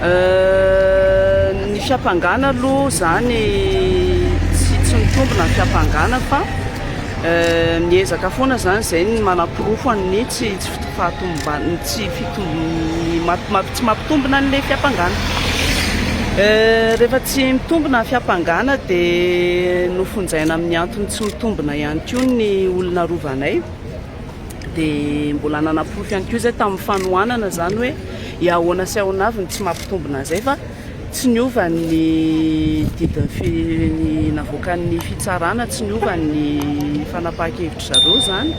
Ny fiampangana aloha izany tsy tsy mitombina ny fiampangana fa euh, miezaka foana izany izay ny manaporofo an'ny tsy tsy fahatomban tsy fitombony tsy mampitombina an'ilay fiampangana. Euh, rehefa tsy mitombina ny fiampangana dia nofonjaina amin'ny antony tsy mitombina ihany koa ny olona rovanay. dia mbola nanaporofo ihany koa izay tamin'ny fanohanana izany hoe i ahoana sy ahoana avy ny tsy mampitombina an'izay fa tsy niova ny didin'ny fi, ny navoakan'ny fitsarana, tsy niova ny fanapahan-kevitry zareo izany.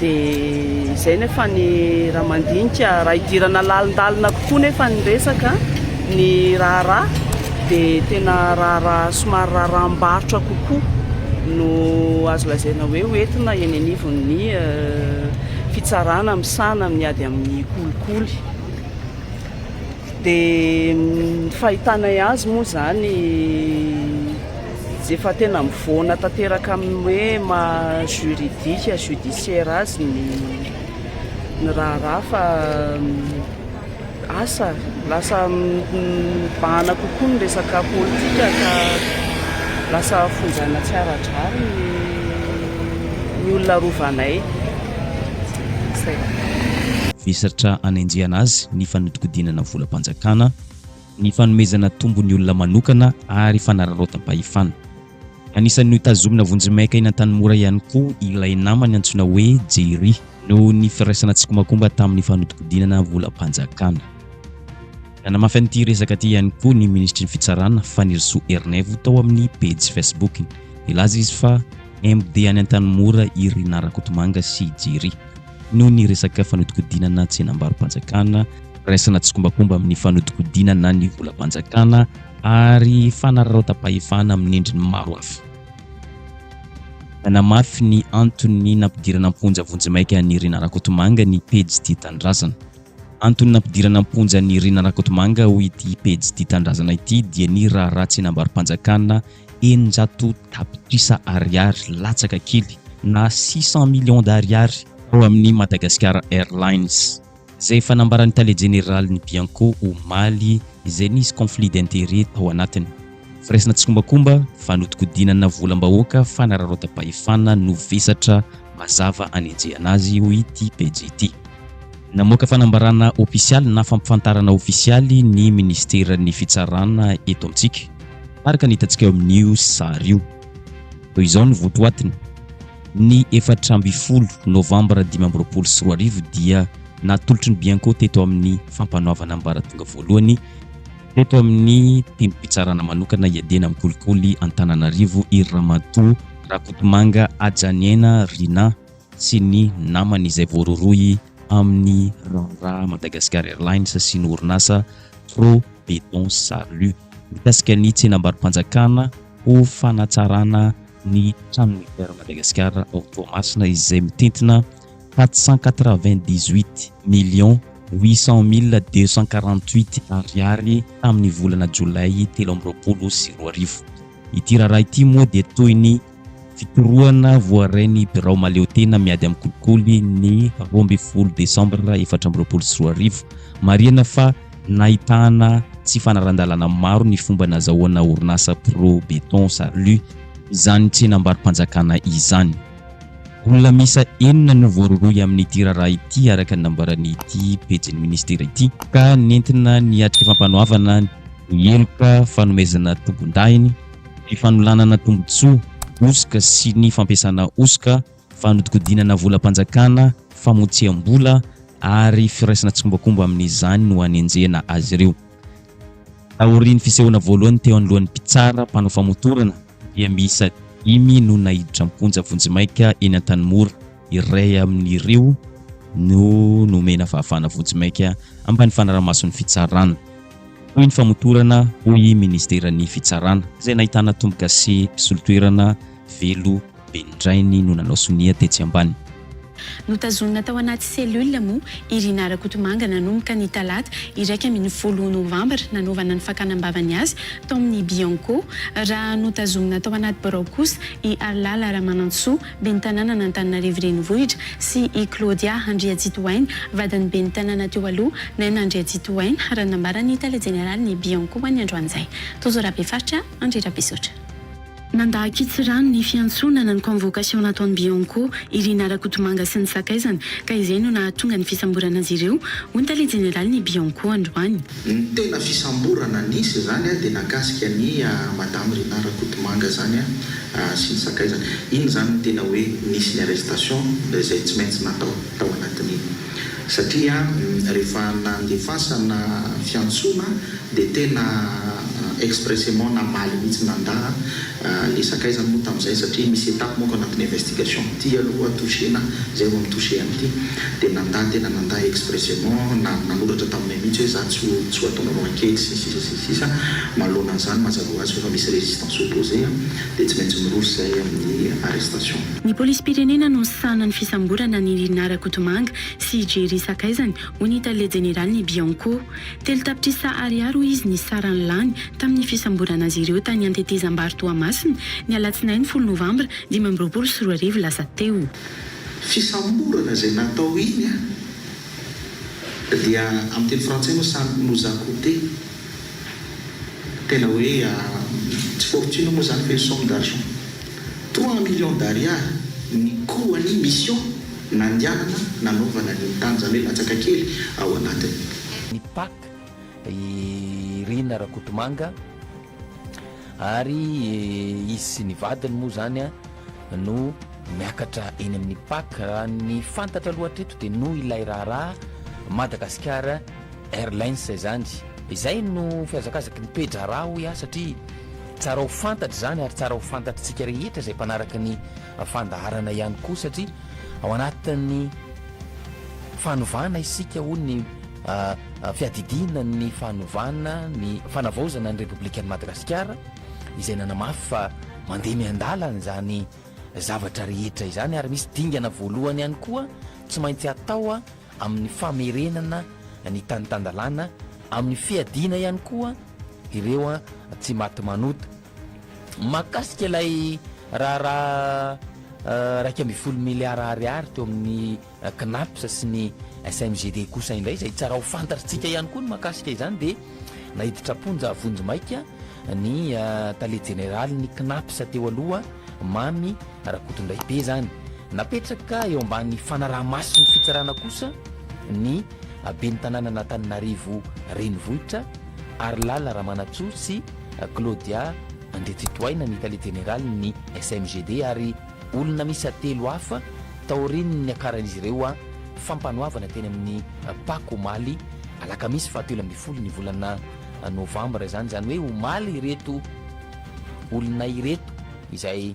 Dia izay nefa ny raha mandinika, raha idirana lalindalina kokoa nefa ny resaka, ny raharaha, dia tena raharaha somary raharaham-barotra kokoa no azo lazaina hoe ho entina eny anivon'ny fitsarana misahana amin'ny ady amin'ny kolikoly. Dia ny fahitanay azy moa izany efa tena mivoana tanteraka amin'ny hoe maha juridique, judiciaire azy ny ny raharaha fa Asa, lasa mibahana kokoa ny resaka politika ka lasa fonjaina tsy ara-drariny ny olona rovanay. Izay. Vesatra anenjehana azy ny fanodinkodinana volam-panjakana, ny fanomezana tombony olona manokana ary fanararaotam-pahefana. Anisan'ny notazomina vonjimaika eny Antanimora ihany koa ilay namany antsoina hoe Jerry, noho ny firaisana tsikombakomba tamin'ny fanodinkodinana volam-panjakana. Nanamafy an'ity resaka ity ihany koa ny minisitry ny Fitsarana, Fanirisoa Ernaivo, tao amin'ny pejy Facebook-ny. Nilaza izy fa MD any Antanimora i Rinah Rakotomanga sy i Jerry, noho ny resaka fanodinkodinana tsenam-barom-panjakana, firaisana tsikombakomba amin'ny fanodinkodinana ny volam-panjakana, ary fanararaotam-pahefana amin'ny endriny maro hafa. Nanamafy ny antony nampidirana am-ponja vonjimaika an'i Irina Rakotomanga ny pejy Tia Tanindrazana. Antony nampidirana am-ponja an'i Irina Rakotomanga ho ity pejy Tia Tanindrazana ity dia ny raharaha tsenam-barom-panjakana eninjato tapitrisa ariary latsaka kely na six cent millions d'ariary tao amin'ny Madagascar Airlines. Izay efa nambaran'ny tale jeneralin'ny Bianco omaly izay nisy conflit d'intérêt tao anatiny. Firaisana tsikombakomba, fanodikodinana volam-bahoaka, fanararaotam-pahefana no vesatra mazava anenjehana azy, hoy ity pejy ity. Namoaka fanambarana ofisialy na fampifantarana ofisialy ny Ministeran'ny Fitsarana eto amintsika, araka ny hitantsika eo amin'io sary io. Toy izao ny votoatiny. Ny efatra ambin'ny folo novambra dimy amby roapolo sy roa arivo dia natolotry ny Bianco teto amin'ny fampanoavana ambaratonga voalohany teto amin'ny tendrom-pitsarana manokana hiadiana amin'ny kolikoly Antananarivo i Ramatoa Rakotomanga Hajaniaina Rinah sy ny namany izay voarorohy amin'ny raharaha Madagascar Airlines sy ny orinasa Pro Beton Salut mikasika ny tsenam-barom-panjakana ho fanatsarana ny tranon'ny Air Madagascar ao Toamasina izay mitentina quatre cent quatre-vingt-dix-huit millions huit cent mille deux cent quarante-huit Ariary tamin'ny volana jolay telo amby roapolo sy roa arivo. Ity raharaha ity moa dia toy ny fitorohana voarain'ny birao mahaleotena miady amin'ny kolikoly ny roa ambin'ny folo desambra efatra amby roapolo sy roa arivo. Marihana fa. Nahitana tsy fanaran-dalana maro ny fomba nazahoana orinasa Pro Beton Salut izany tsenam-barom-panjakana izany. Olona miisa enina no voarohirohy amin'ity raharaha ity araka ny nambaran'ity pejin'ny minisitera ity, ka nentina niatrika fampanoavana ny heloka fanomezana tombondahiny, ny fanolanana tombotsoa hosoka sy ny fampiasana hosoka. Fanodikodinana volam-panjakana, famotsiam-bola ary firaisana tsikombakomba amin'izany no anenjehina azy ireo. Taorian'ny fisehoana voalohany teo anoloan'ny mpitsara mpanao famotorana dia miisa dimy no naiditra am-ponja vonjimaika eny Antanimora. Iray amin'ireo no nomena fahafahana vonjimaika ambany fanaraha-mason'ny fitsarana toy ny famotorana hoy Ministeran'ny Fitsarana izay nahitana tombogasy mpisolo toerana velo Ben'Indrainy no nanao sonia tetsy ambany. Notazonina tao anaty cellule moa i Rinah Rakotomanga nanomboka ny talata iraika ambin'ny folo novambra nanaovana ny fakana am-bavany azy tao amin'ny Bianco, raha notazomina tao anaty birao kosa i Harilala Ramanantsoa, ben'ny tanànan'Antananarivo Renivohitra sy i Claudia Andriatsitohaina, vadin'ny ben'ny tanàna teo aloha Naina Andriatsitohaina, raha nambaran'ny tale jeneralin'ny Bianco an'ny androan'izay, Tojo Rabefaritra Andry Rabesaotra. Nandà an-kitsirano ny fiantsonana ny convocation nataon'i Bianco, i Rina Rakotomanga sy ny sakaizany ka izay no nahatonga ny fisamborana azy ireo, hoy ny tale jeneralin'ny Bianco androany. Ny tena fisamborana nisy izany dia nakasika an'i Madame Rina Rakotomanga izany sy ny sakaizany. Iny izany no tena hoe nisy ny arrestation izay tsy maintsy natao tao anatin'iny. Satria rehefa nandefasana fiantsoana dia tena expressément namaly mihitsy nanda le sakaizany moa tamin'izay satria misy étape manko anatin'ny investigation ity aloha toucher-na zay vao mi-toucher an'ity dia nanda tena nanda expressément na nanoratra taminay mihitsy hoe za tsy tsy ho ataonareo ankehitry sy ny sisa sy ny sisa manoloana an'izany mazava ho azy fa efa misy résistance opposé dia tsy maintsy miroso izay amin'ny arrestation. Ny polisim-pirenena no misahana ny fisamborana an'i Rinah Rakotomanga sy Jerry sakaizany, hoy ny tale jeneralin'ny Bianco. Telo tapitrisa ariary hoy izy ny sarany lany tamin'ny fisamborana azy ireo tany Antetezambary Toamasina, ny alatsinainy folo novambra dimy amby roapolo sy roa arivo lasa teo. Fisamborana izay natao iny dia amin'ny teny frantsay moa ça nous a coute. Tena hoe tsy fortune moa zany fa une somme d'argent trois millions d'ariary ny coût an'ny mission nandianana nanaovana an'iny tany zany hoe latsaka kely ao anatiny. ny pac, i Rina Rakotomanga ary izy sy ny vadiny moa zany no miakatra eny amin'ny pac, raha ny fantatra aloha hatreto dia noho ilay raharaha Madagasikara. Airlines izany. Izay no fihazakazaky ny toe-draharaha hoy aho satria tsara ho fantatra izany ary tsara ho fantatr'tsika rehetra izay mpanaraka ny fandaharana ihany koa satria ao anatin'ny fanovana isika hoy ny fiadidiana ny fanovana ny fanavaozana ny Repoblikan'i Madagasikara izay nanamafy fa mandeha miandalana izany zavatra rehetra izany ary misy dingana voalohany ihany koa tsy maintsy atao amin'ny famerenana ny tany tan-dalàna, amin'ny fiadiana ihany koa ireo tsy maty manota. Mahakasika ilay raharaha iraika ambin'ny folo miliara ariary teo amin'ny Cnaps sy ny SMGD kosa indray, izay tsara ho fantatrtsika ihany koa ny mahakasika izany dia naiditra am-ponja vonjimaika ny tale jeneralin'ny Cnaps teo aloha, Mamy Rakotondraibe izany. Napetraka eo ambany fanaraha-mason'ny fitsarana kosa ny ben'ny tanànan'Antananarivo Renivohitra, Harilala Ramanantsoa sy Claudia Andriatsitohaina ny tale jeneralin'ny SMGD ary olona miisa telo hafa taorian'ny niakaran'izy ireo fampanoavana teny amin'ny Paka omaly alakamisy fahatelo ambin'ny folo ny volana novambra izany, izany hoe omaly ireto olona ireto izay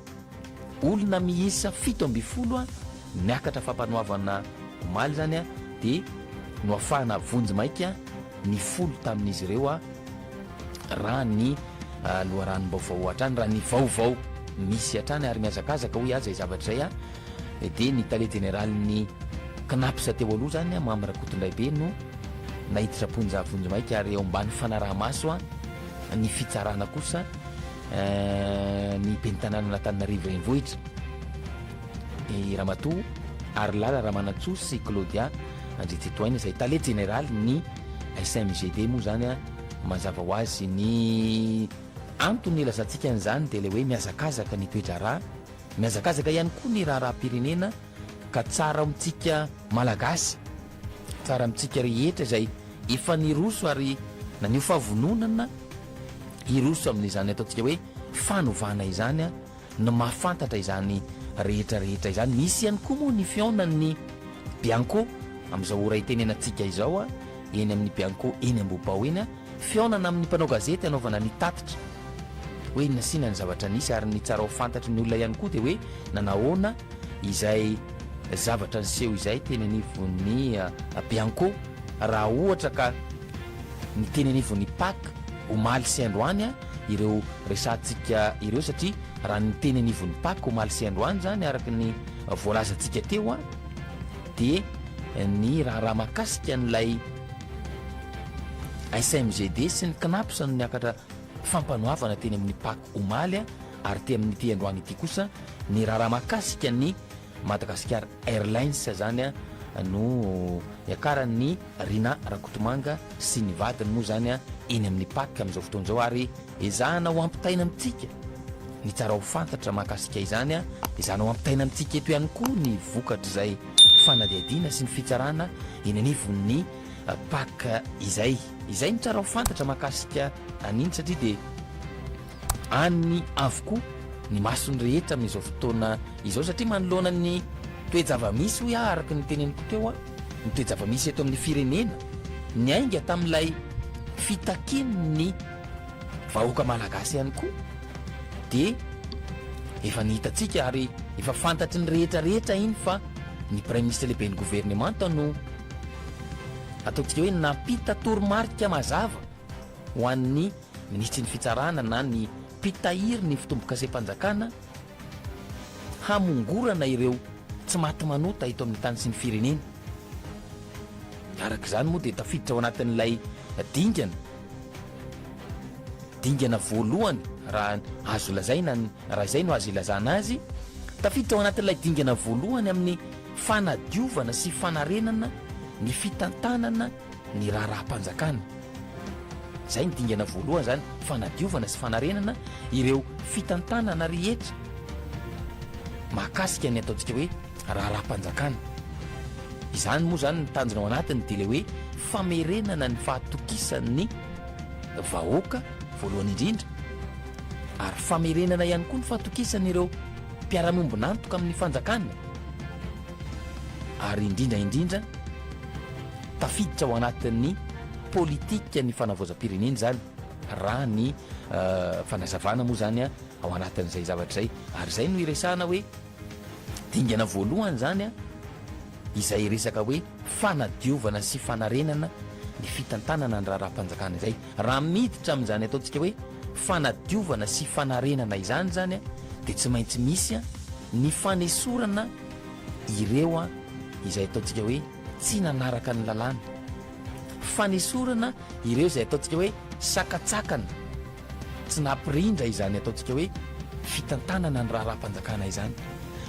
Olona miisa fito ambin'ny folo niakatra fampanoavana omaly izany dia noafahana vonjy maika ny folo tamin'izy ireo raha ny loharanom-baovao hatrany, raha ny vaovao misy hatrany ary mihazakazaka hoy aza izavatra izay dia ny tale jeneralin'ny Cnaps teo aloha izany Mamy Rakotondraibe no naiditra am-ponja vonjy maika ary eo ambany fanaraha-maso ny fitsarana kosa. ny ben'ny tanànan'Antananarivo Renivohitra, i Ramatoa Harilala Ramanantsoa sy Claudia Andriantsitohaina izay tale jeneralin'ny SMGD moa izany a, mazava ho azy ny antony nilazantsika an'izany dia ilay hoe mihazakazaka ny toe-draharaha, mihazakazaka ihany koa ny raharaham-pirenena. Ka tsara amintsika Malagasy, tsara amintsika rehetra izay efa niroso ary naneho fahavononana hiroso amin'izany ataontsika hoe fanovana izany no mahafantatra izany rehetra rehetra izany. Misy ihany koa moa ny fihaonan'ny Bianco amin'izao ora itenenantsika izao eny amin'ny Bianco eny Ambohibao eny. Fihaonana amin'ny mpanao gazety hanaovana ny tatitra hoe inona sy inona ny zavatra nisy ary ny tsara ho fantatry ny olona ihany koa dia hoe nanahoana izay zavatra niseho izay teny anivon'ny Bianco raha ohatra ka ny teny anivon'ny pac omaly sy androany ireo resahantsika ireo satria raha ny teny anivon'ny pac omaly sy androany izany araka ny voalazantsika teo dia ny raharaha mahakasika an'ilay SMGD sy ny Cnaps no niakatra fampanoavana teny amin'ny Pac omaly ary te amin'ity androany ity kosa ny raharaha mahakasika ny Madagascar Airlines izany no niakaran'i Rinah Rakotomanga sy ny vadiny moa izany eny amin'ny Pac amin'izao fotoana izao ary ezahana ho ampitaina amintsika ny tsara ho fantatra mahakasika izany, ezahana ho ampitaina amintsika eto ihany koa ny vokatr'izay. fanadihadiana sy ny fitsarana eny anivon'ny Pac izay. Izay no tsara ho fantatra mahakasika an'iny satria dia any avokoa ny mason'ny rehetra amin'izao fotoana izao satria manoloana ny toe-java-misy hoy aho araka ny teneniko teo, ny toe-java-misy eto amin'ny firenena niainga tamin'ilay fitakian'ny. vahoaka malagasy ihany koa dia efa ny hitantsika ary efa fantatry ny rehetra rehetra iny fa ny praiminisitra lehiben'ny governemanta no ataontsika hoe nampita toromarika mazava ho an'ny minisitry ny fitsarana na ny mpitahiry ny fitombokasem-panjakana hamongorana ireo tsy maty manota eto amin'ny tany sy ny firenena. Araka izany moa dia tafiditra ao anatin'ilay dingana Dingana voalohany raha azo lazaina ny, raha izay no azo ilazana azy, tafiditra ao anatin'ilay dingana voalohany amin'ny fanadiovana sy fanarenana ny fitantanana ny raharaham-panjakana. Izay ny dingana voalohany izany, fanadiovana sy fanarenana ireo fitantanana rehetra mahakasika ny ataontsika hoe. raharaham-panjakana. Izany moa izany ny tanjona ao anatiny dia ilay hoe famerenana ny fahatokisan'ny vahoaka voalohany indrindra ary famerenana ihany koa ny fahatokisan'ireo mpiara-miombon'antoka amin'ny fanjakana ary indrindra indrindra tafiditra ao anatin'ny politikan'ny fanavaozam-pirenena izany raha ny fanazavana moa izany ao anatin'izay zavatra izay ary izay no iresahana hoe Dingana voalohany izany izay resaka hoe fanadiovana sy fanarenana ny fitantanana ny raharaham-panjakana izay. Raha miditra amin'izany ataontsika hoe fanadiovana sy fanarenana izany izany dia tsy maintsy misy ny fanesorana ireo izay ataontsika hoe tsy nanaraka ny lalàna. Fanesorana ireo izay ataontsika hoe sakatsakana Tsy nampirindra izany ataontsika hoe fitantanana ny raharaham-panjakana izany.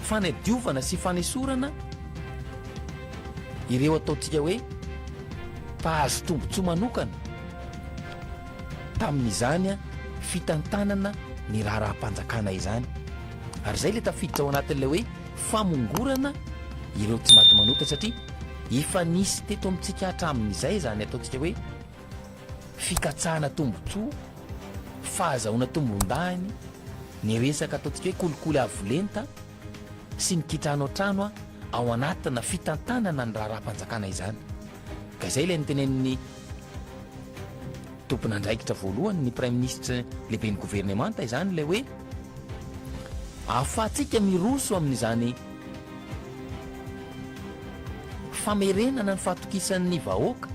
Fanadiovana sy fanesorana ireo ataontsika hoe mpahazo tombontsoa manokana tamin'izany fitantanana ny raharaham-panjakana izany. Ary izay ilay tafiditra ao anatin'ilay hoe famongorana ireo tsy maty manota satria efa nisy teto amintsika hatramin'izay izany ataontsika hoe fikatsahana tombontsoa, fahazahoana tombondahiny, ny resaka ataontsika hoe kolikoly avo lenta sy ny kitrano trano ao anatina fitantanana ny raharaham-panjakana izany. Ka izay ilay notenenin'ny tompon'andraikitra voalohany, ny Praiminisitra lehiben'ny governemanta izany ilay hoe ahafahantsika miroso amin'izany famerenana ny fahatokisan'ny vahoaka,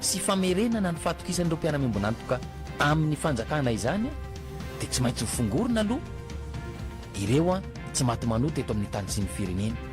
sy famerenana ny fahatokisan'ireo mpiara-miombon'antoka amin'ny fanjakana izany dia tsy maintsy hofongorina aloha ireo tsy maty manota eto amin'ny tany sy ny firenena.